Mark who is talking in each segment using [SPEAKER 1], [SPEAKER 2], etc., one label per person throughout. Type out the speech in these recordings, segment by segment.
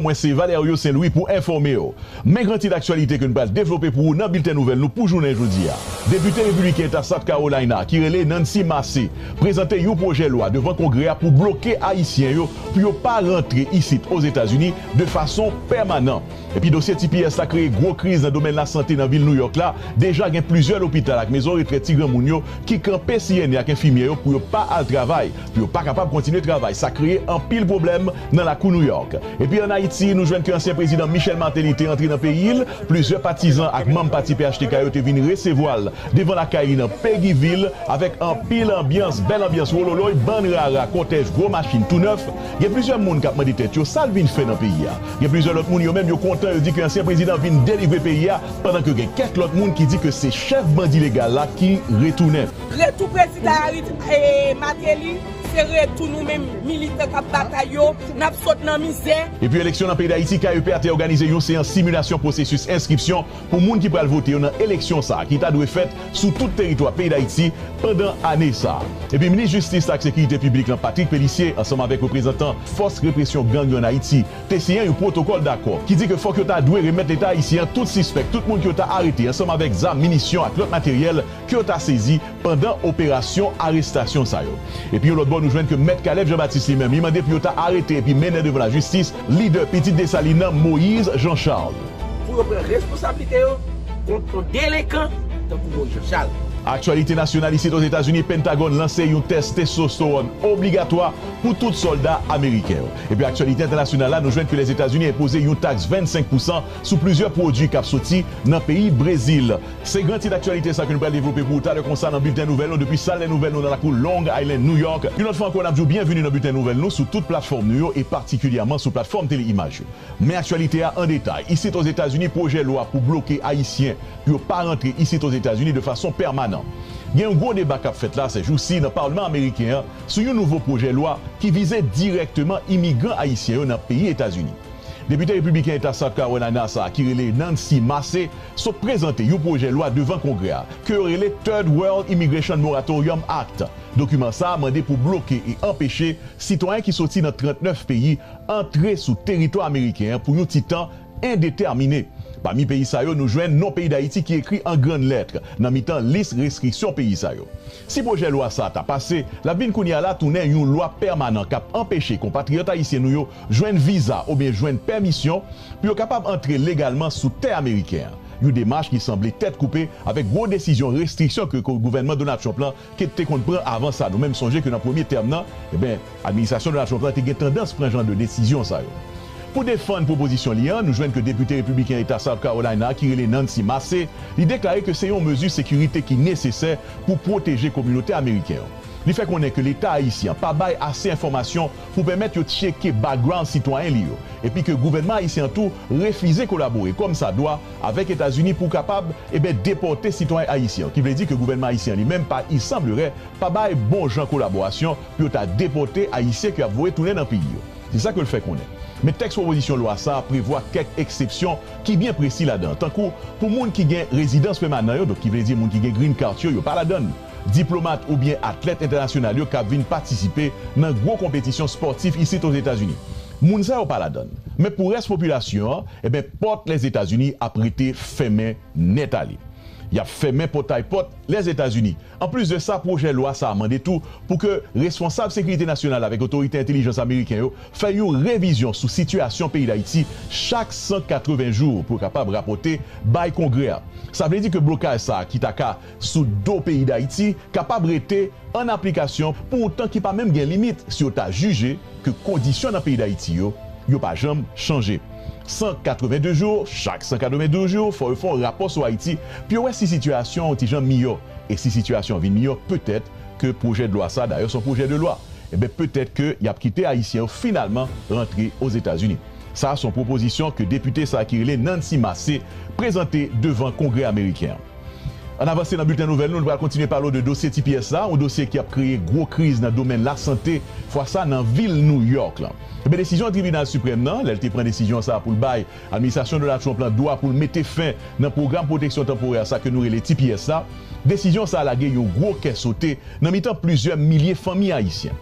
[SPEAKER 1] Mwen se Valerio Saint Louis pou enfòme w. Men gran tit aktyalite ke n pral devlope pou ou nan bilten nouvèl nou pou jounen jodi a. Depite Repibliken Eta South Carolina ki rele Nancy Mace prezante yon pwojè lwa devan Kongrè a pou bloke Ayisyen yo pou yo pa rantre isit Ozetazini de fason pèmanan. Epi dosye tps la kreye gwo kriz nan domèn lasante nan vil Nouyòk la. Deja gen plizyè lopital ak mezon retrèt ti granmoun yo ki kanpe siyène ak enfimyè yo pou yo pa al travay. pou yo pa kapab kontinye travay sa kreye anpil pwoblèm nan lakou New York. Epi an Ayiti nou jwenn ke ansyen prezidan Michel Martelly te antre nan peyi l, plizyè patizan ak manm pati phtk yo te vin resevwa l devan lakay li nan Peguiville avèk anpil anbyans, bèl anbyans wololoy, bann rara, kòtèj, gwo machin tou nèf. Gen plizyè moun k ap mande tèt yo sa l vin fè nan peyi a. Gen plizyè lòt moun yo menm yo kontan yo di ke ansyen prezidan vin delivre peyi a pandan ke gen kèk lòt moun ki di ke se chèf bandi legal la ki retounen. Retou prezidan
[SPEAKER 2] Harit Mateli se retou nou menm militan kap batay yo, nap sot nan mizè. Epi eleksyon nan peyi Dayiti,
[SPEAKER 1] KEP a te òganize yon seyans similasyon pwosesis enskripsyon pou moun ki pral vote yo nan eleksyon sa a ki ta dwe fèt sou tout teritwa peyi Dayiti pandan ane sa a. Epi minis jistis ak sekirite piblik lan Patrick Pélissier ansanm avèk reprezantan fòs represyon gang yo ann Ayiti te siyen yon pwotokòl dakò ki di ke fòk yo ta dwe remèt leta ayisyen an tout sispèk, tout moun ke yo ta arete ansanm avèk zam, minisyon ak lòt materyèl ke yo ta sezi pandan operasyon arestasyon sa yo. Epi yon lòt bò nou jwenn ke Mèt Caleb Jean Baptiste li menm, li mande pou yo ta arete epi mennen devan lajistis lidè Pitit Desalin nan Moïse Jean Charles. Pou yo pran
[SPEAKER 2] responsablite yo kont yon delenkan tankou Moïse Jean Charles. Aktyalite nasyonal
[SPEAKER 1] isit Ozetazini, Pentagòn lanse yon tès testostewòn obligatwa pou tout sòlda ameriken yo. Epi aktyalite entènasyonal la nou jwenn ke Lèzetazini enpoze yon taks 25 pousan sou plizyè pwodui kap soti nan peyi Brezil. Se gran tit aktyalite sa ke nou pral devlope pou ou talè konsa nan bilten nouvèl nou depi sal lè nouvèl nou nan lakou Long Island, New York. Yon lòt fwa ankò n ap di w byenvini nan bilten nouvèl nou sou tout platfòm nou yo e patikilyèman sou platfòm tele imaj yo. Men aktyalite a an detay. Isit Ozetazini pwojè lwa pou bloke Ayisyen pou yo pa rantre isit Ozetazini de fason pèmanan. Gen yon gwo deba k ap fèt la sèjousi nan palman ameriken an sou yon nouvo pwojè lwa ki vize dirèkteman imigran Ayisyen yo nan peyi Etazini. Depite repibliken eta South Carolina sa a ki rele Nancy Mace sot prezante yon pwojè lwa devan Kongrè a ke yo rele Third World Immigration Moratorium Act. Dokiman sa a mande pou bloke e anpeche sitwayen ki soti nan 39 peyi antre sou teritwa ameriken an pou yon ti tan endetèmine. Pami peyi sa yo nou jwenn non peyi Dayiti ki ekri an grann lèt nan mitan lis restriksyon peyi sa yo. Si pwojè lwa sa a ta pase, l ap vin kounye a la tounen yon lwa pèmanan k ap anpeche konpatriyòt ayisyen nou yo jwenn viza oubyen jwenn pèmisyon pou yo kapab antre legalman sou tè ameriken an, yon demach ki sanble tèt koupe avèk gwo desizyon restriksyon ke gouvènman Donald Trump lan te konn pran avan sa. Nou menm sonje ke nan premye tèm nan, enben, administrasyon Donald Trump lan te gen tandans pran jan de desizyon sa yo. Pou defann pwopozisyon li an, nou jwenn ke depite repibliken eta South Carolina a ki rele Nancy Mace, li deklare ke se yon mezi sekirite ki nesesè pou pwoteje kominote ameriken yo. Li fè konnen ke leta ayisyen an pa bay ase enfòmasyon pou pèmèt yo tcheke background sitwayen li yo, epi ke gouvènman ayisyen an tou refize kolabore kòm sa dwa avèk Etazini pou kapab e ben depòte sitwayen ayisyen yo, ki vle di ke gouvènman ayisyen an li menm pa i sanblerai pa bay bon jan kolaborasyon pou yo ta depòte ayisyen ke y ap voye tounen nan peyi yo. Se sa ke l fè konnen. Men tèks pwopozisyon lwa sa a prevwa kèk eksepsyon ki byen presi ladan, tankou pou moun ki gen rezidans pèmanan yo, donk ki vle di moun ki gen green cart yo, yo pa ladan l. diplomat oubyen atlèt entènasyonal yo k ap vin patisipe nan gwo konpetisyon spòtif isit Ozetazini. Moun sa yo pa ladann. Men pou rès popilasyon an, enben pòt Lèzetazini ap rete fèmen nèt ale. Y ap fèmen pòtay pòt Lèzetazini. Anplis de sa, pwojè lwa sa a mande tou pou ke responsab sekirite nasyonal avèk otorite entelijans ameriken yo fè yon revizyon sou sitiyasyon peyi Dayiti chak 180 jou pou yo kapab rapòte bay Kongrè a. Sa vle di ke blokaj sa a ki ta ka sou do peyi Dayiti kapab rete an aplikasyon pou yon tan ki pa menm gen limit si yo ta jije ke kondisyon nan peyi Dayiti yo, yo pa janm chanje. 182 jou, chak 192 jou fò yo fè yon rapò sou Ayiti pou yo wè si sitiyasyon yon ti jan miyò e si sitiyasyon vin miyò petèt ke pwojè de lwa sa, dayè se yon pwojè de lwa, enben petèt ke y ap kite Ayisyen yo finalman rantre Ozetazini. Sa a se yon pwopozisyon ke depite sa a ki rele Nancy Mace prezante devan Kongrè Ameriken an. Ann avanse nan bilten nouvèl nou, nou pral kontinye pale w de dosye tps la, yon dosye ki ap kreye gwo kriz nan domèn lasante, fwa sa nan vil New York lan. Enben desizyon Tribinal Siprèm nan, lè l te pran desizyon sa a pou l bay Administrasyon Donald Trump lan dwa pou l mete fen nan pwogram pwoteksyon tanporè sa ke nou rele tps la, desizyon sa a lage yon gwo kè sote nan mitan plizyè milye fanmi ayisyen.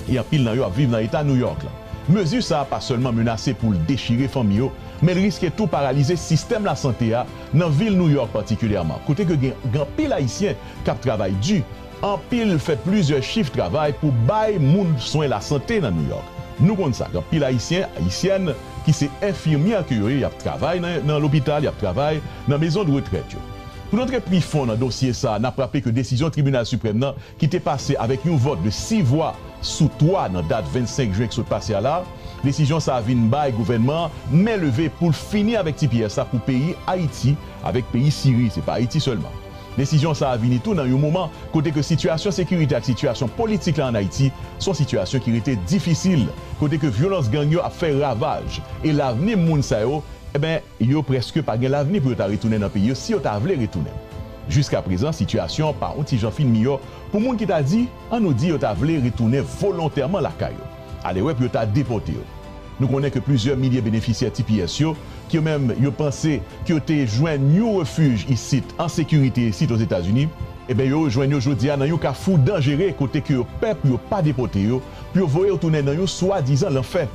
[SPEAKER 1] e anpil nan yo ap viv nan Eta New York la. Mezi sa a pa sèlman menase pou l dechire fanmi yo, men l riske tou paralize sistèm lasante a nan vil New York patikilyèman, kote ke gen anpil Ayisyen k ap travay di, anpil fè plizyè chif travay pou bay moun swen lasante nan New York. Nou konn sa, gen anpil Ayisyen, Ayisyèn ki se enfimyè ke yo ye, y ap travay nan lopital, y ap travay nan mezondretrèt yo. Pou n antre pi fon nan dosye sa a, n ap raple ke desizyon Tribinal Siprèm nan ki te pase avèk yon vòt de 6 vwa sou 3 nan dat 25 jen k sot pase a la, desizyon sa vin bay gouvènman an men leve pou l fini avèk tps la pou peyi Ayiti avèk peyi Siri, se pa Ayiti sèlman. Desizyon sa vini tou nan yon moman kote ke sitiyasyon sekirite ak sitiyasyon politik la an Ayiti se yon sitiyasyon ki rete difisil, kote ke vyolans gang yo ap fè ravaj e lavni moun sa yo, enben, Yo prèske pa gen lavni pou yo ta retounen nan peyi yo si yo ta vle retounen. Jiskaprezan, sitiyasyon an pa on ti jan fin miyò pou moun ki ta di, an nou di yo ta vle retounen volontèman lakay yo. Ale wè pou yo ta depòte yo. Nou konnen ke plizyè milye benefisyè tps yo, ke yo menm yo panse ke yo te jwenn yon refij isit, an sekirite isit Ozetazini, eben yo rejwenn yo jodi a nan yon kafou danjere kote ke yo pè pou yo pa depòte yo, pou yo voye yo tounen nan yon swadizan lanfè.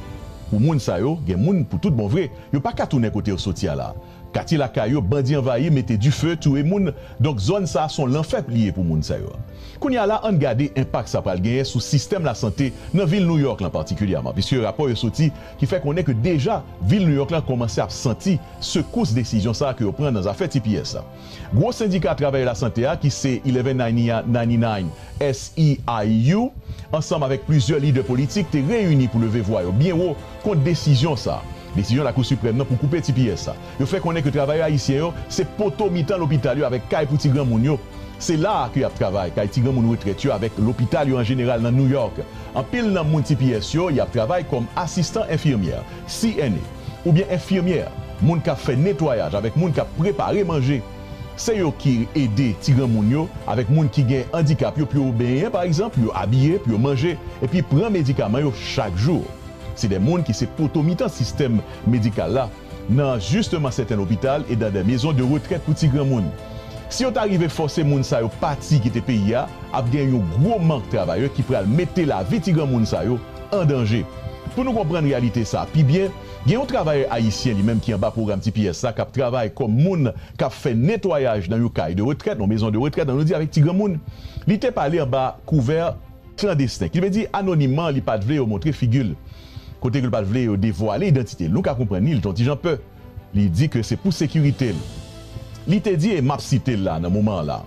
[SPEAKER 1] Pou moun sa yo, gen moun pou tout bon vre. Yo pa ka tounen kote yo soti a la. Katye lakay yo bandi anvayi mete dife, touye moun, donk zòn sa son lanfè li ye pou moun sa yo. Kounye a la ann gade enpak sa pral genyen sou sistèm lasante nan vil New York lan patikilyèman piske rapò yo soti ki fè konnen ke deja vil New York lan kòmanse ap santi sekous desizyon sa ke yo pran nan zafè tps la. Gwo sendika travayè lasante a ki se Eleven Ninia Ninety Nine SEIU ansanm avèk plizyè lidè politik te reyini pou leve vwa yo byen wo kont desizyon sa a, desizyon Lakou Siprèm nan pou koupe tps la. Yo fè konnen ke travayè ayisyen yo se poto mitan lopital yo avèk kay pou ti granmoun yo. Se la a ke y ap travay, kay ti granmoun retrèt yo avèk lopital yo an jeneral nan New York. Anpil nan moun tps yo y ap travay kòm asistan enfimyè, CNA. oubyen enfimyè, moun k ap fè netwayaj avèk moun k ap prepare manje. Se yo ki ede ti granmoun yo avèk moun ki gen andikap yo pou yo benyen, pa egzanp, pou yo abiye, pou yo manje, epi pran medikaman yo chak jou. Se de moun ki se poto mitan sistèm medikal la nan jisteman sèten lopital e dan de mezon de retrèt pou ti granmoun. Si yo ta rive fòse moun sa yo pati kite peyi a, ap gen yon gwo mank travayè ki pral mete lavi ti granmoun sa yo an danje. Pou nou konprann reyalite sa a pi byen, gen yon travayè ayisyen li menm ki anba pwogram tps la k ap travay kòm moun k ap fè netwayaj nan yon kay de retrèt, yon mezon de retrèt, jan nou di avèk ti granmoun. Li te pale anba kouvè klandesten, ki vle di anonimman, li pa t vle yo montre figi l, kote ke l pa t vle yo devwale idantite l. Nou ka konprann li, li te yon ti jan pè. Li di ke se pou sekirite l. Li te di e map site l la nan moman an la.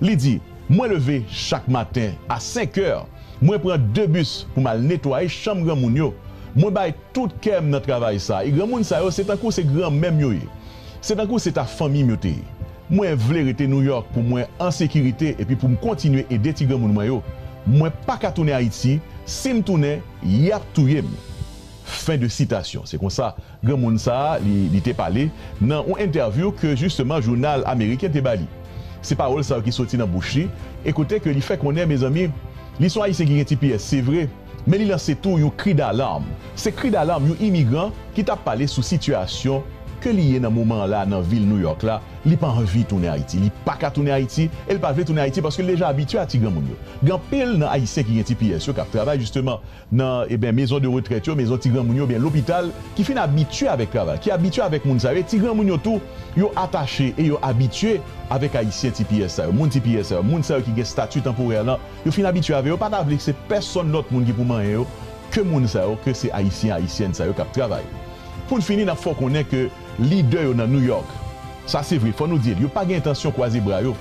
[SPEAKER 1] Li di, Mwen leve chak maten a 5 kè, mwen pran 2 bis pou m al netwaye chanm granmoun yo. Mwen bay tout kè m nan travay sa e granmoun sa yo se tankou se granmè m yo ye. Se tankou se ta fanmi m yo te ye. Mwen vle rete Nouyòk pou mwen an sekirite epi pou m kontinye ede ti granmoun mwen yo. Mwen pa ka tounen Ayiti, si m tounen, y ap touye m. Fen de sitasyon. Se konsa. Granmoun sa a li te pale nan yon entèvyou ke jisteman jounal ameriken te ba li. Se pawòl sa yo ki soti nan bouch li e kote ke li fè konnen mezanmi li son Ayisyen ki gen tps se vre men li lanse tou yon kri dalarm. Se kri dalarm yon imigran ki tap pale sou sitiyasyon ke li ye nan moman an la nan vil Nouyòk la. Li pa anvi tounen Ayiti, li pa ka tounen Ayiti e li pa vle tounen Ayiti paske li deja abitye a ti granmoun yo. Gen anpil nan Ayisyen ki gen tps yo kap travay jisteman nan eben mezon de retrèt yo, mezon ti granmoun yo oubyen lopital ki fin abitye avèk travay, ki abitye avèk moun sa yo e ti granmoun yo tou yo atache e yo abitye avèk ayisyen tps sa yo, moun tps sa yo, moun sa yo ki gen stati tanporè lan yo fin abitye avè yo pa ta vle se pèsonn lòt moun ki pou manyen yo ke moun sa yo ke se ayisyen ayisyèn sa yo kap travay. Pou n fini nap fè w konnen ke. Lidè yo nan New York, sa se vre, fò nou di l, yo pa gen entansyon kwaze bra yo.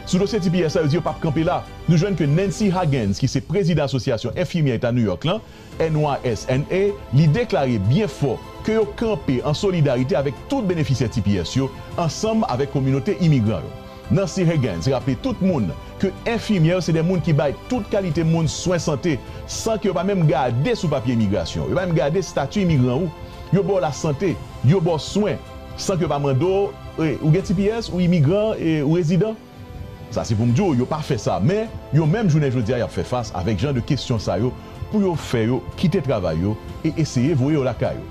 [SPEAKER 1] Sou dosye tps la, yo di yo pap kanpe la. Nou jwenn ke Nancy Hagans, ki se prezidan Asosyasyon Enfimyè Eta New York lan, NYSNA, li deklare byen fò ke yo kanpe an solidarite avèk tout benefisyè tps yo, ansanm avèk kominote imigran yo. Nancy Huggins raple tout moun ke enfimyè yo se de moun ki bay tout kalite moun swen sante san ke yo pa menm gade sou papye imigrasyon w, yo pa menm gade stati imigran ou, yo ba w lasante, yo ba w swen san ke yo pa mande w ou gen tps, ou imigran, ou rezidan. Sa se pou m di w yo pa fè sa men yo menm jounen jodi a y ap fè fas avèk jan de kesyon sa yo pou yo fè yo kite travay yo e eseye voye yo lakay yo.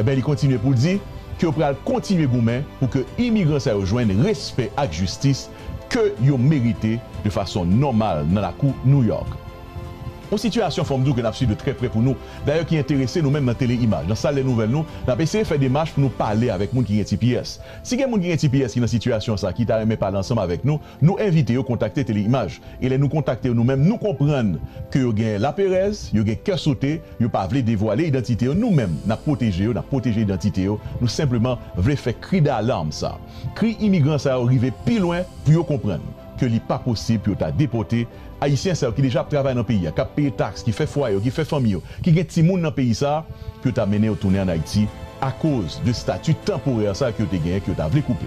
[SPEAKER 1] Enben li kontinye pou l di ke yo pral kontinye goumen pou ke imigran sa yo jwenn respè ak jistis ke yo merite de fason nòmal nan lakou New York. Yon sitiyasyon fò m di w ke n ap swiv de trè prè pou nou dayè ki enterese nou menm nan Tele Imaj, nan sal lè nouvèl nou, n ap eseye fè demach pou nou pale avèk moun ki gen tps. Si gen moun ki gen tps ki nan sitiyasyon sa ki ta renmen pale ansanm avèk nou, Nou envite yo kontakte Tele-Imaj e lè nou kontakte yo nou menm nou konprann ke yo gen laperèz, yo gen kè sote, yo pa vle devwale idantite yo, nou menm nap pwoteje yo, nap pwoteje idantite yo, nou senpleman vle fè kri dalarm sa, kri imigran sa yo rive pi lwen pou yo konprann ke li pa posib pou yo ta depòte Ayisyen sa yo ki deja ap travay nan peyi a, kap peye taks, ki fè fwaye yo, ki fè fanmi yo, ki gen timoun nan peyi sa, pou yo ta mennen yo tounen an Ayiti akoz de stati tanporè sa ke yo te genyen ke yo ta vle koupe.